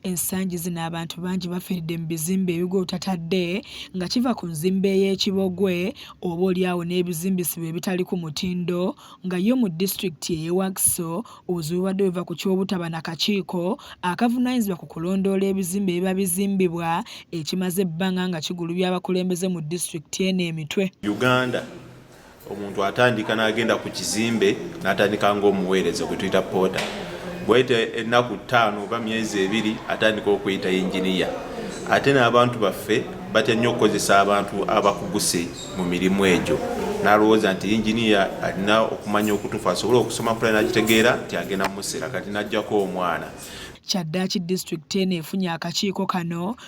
Ensangi zino abantu bangi bafiiridde mu bizimbe ebigwa otatadde nga kiva ku nzimba ey'ekibogwe oba olyawo n'ebizimbisibwa ebitali ku mutindo nga yo mu disitulikiti ey'e Wakiso obuzibu bubadde buva ku ky'obutaba na kakiiko akavunaanyizibwa ku kulondoola ebizimbe ebiba bizimbibwa ekimaze ebbanga nga kigulubya abakulembeze mu disitulikiti eno emitwe. Uganda. omuntu atandika n'agenda ku kizimbe n'atandika ng'omuweereza gwe tuyita poota bwayita ennaku ttaano oba myezi ebiri atandika okuyita yinginiya ate n'abantu baffe batya nnyo okukozesa abantu abakuguse mu mirimu egyo n'alowooza nti yinginiya alina okumanya okutuufu asobole okusoma pula n'akitegeera nti agenda mumusera kati n'ajjako omwana kyaddaaki disitulikiti eno efunye akakiiko kano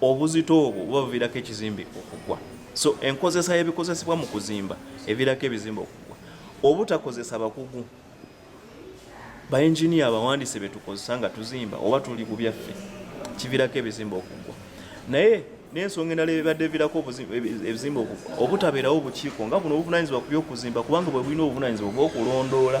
obuzito obwo buba buviirako ekizimbe okugwa so enkozesa y'ebikozesebwa mu kuzimba eviirako ebizimbe okugwa obutakozesa bakugu bainginia abawandiise betukozesa nga tuzimba oba tuli ku byaffe kiviirako ebizimbe okugwa naye n'ensonga endala ebibadde evirako ebizimbe okugwa obutabeerawo obukiiko nga buno obuvunanyizibwa ku byokuzimba kubanga bwe bulina obuvunanyizibwa obwokulondoola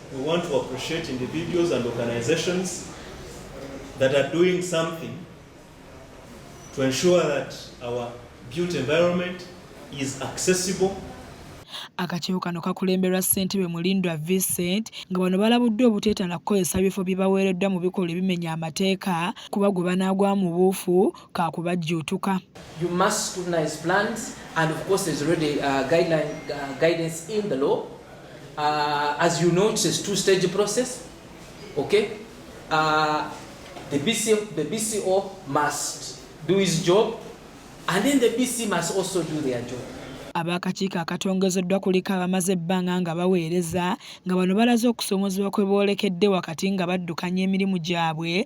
We want to appreciate individuals and organizations that are doing something to ensure that our built environment is accessible Akakiiko kano kakulemberwa ssentebe Mulindwa Vincent nga bano balabuddwa obuteetala kukozesa bifo bye baweereddwa mu bikolwa ebimenya amateeka kuba gwe banaagwa mu buufu ka kubajjuutuka. You must scrutinize plans and of course there's already uh, guideline, uh, guidance in the law Uh, as you know, it's a two-stage process. Okay, uh, the BC, the BCO must do his job, and then the BC must also do their job. ab'akakiiko akatongozeddwa kuliko abamaze ebbanga nga baweereza nga bano balaze okusoomoozebwa kwe boolekedde wakati nga baddukanya emirimu gyabwe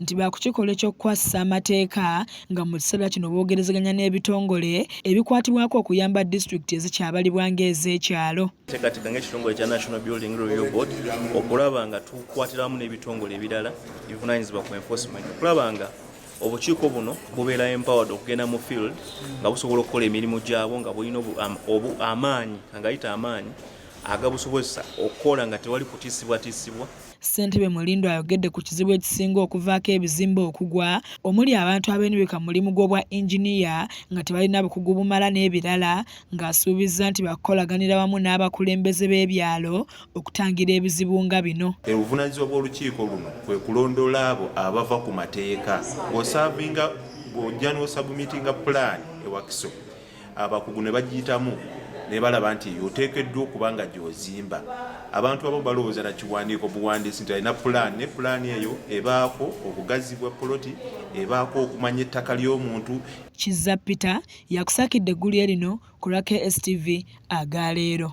nti baakukikola eky'okukwasisa amateeka nga mu kiseera kino boogerezeganya n'ebitongole ebikwatibwako okuyamba disitulikiti ezikyabalibwa ng'ez'ekyalo teekateeka ng'ekitongole kya national building review board okulaba nga tukwatiramu n'ebitongole ebirala ebivunanyizibwa ku enforcement okulaba nga obukiiko buno bubeera empowered okugenda mu field nga busobola okukola emirimu gyabwo nga bulina amaanyi angayita amaanyi agabusobozesa okukola nga tewali kutiisibwatiisibwa Ssentebe Mulindwa ayogedde ku kizibu ekisinga okuvaako ebizimbe okugwa omuli abantu abeenyweka mu mulimu gw'obwa Engineer nga tebalina bukugu bumala n'ebirala ng'asuubizza nti bakukolaganira wamu n'abakulembeze b'ebyalo okutangira ebizibu nga bino. Obuvunaanyizibwa bw'olukiiko luno kwe kulondoola abo abava ku mateeka ng'osaavinga ng'ojja n'osabumitinga pulaani e Wakiso abakugu ne bagiyitamu ne balaba nti oteekeddwa okuba nga gy'ozimba abantu abamu balowooza na kiwandiiko buwandiisi nti alina pulaani ne pulaani eyo ebaako obugazi bwa poloti ebaako okumanya ettaka ly'omuntu kizza peter yakusakidde eggulire lino ku lwa kstv aga leero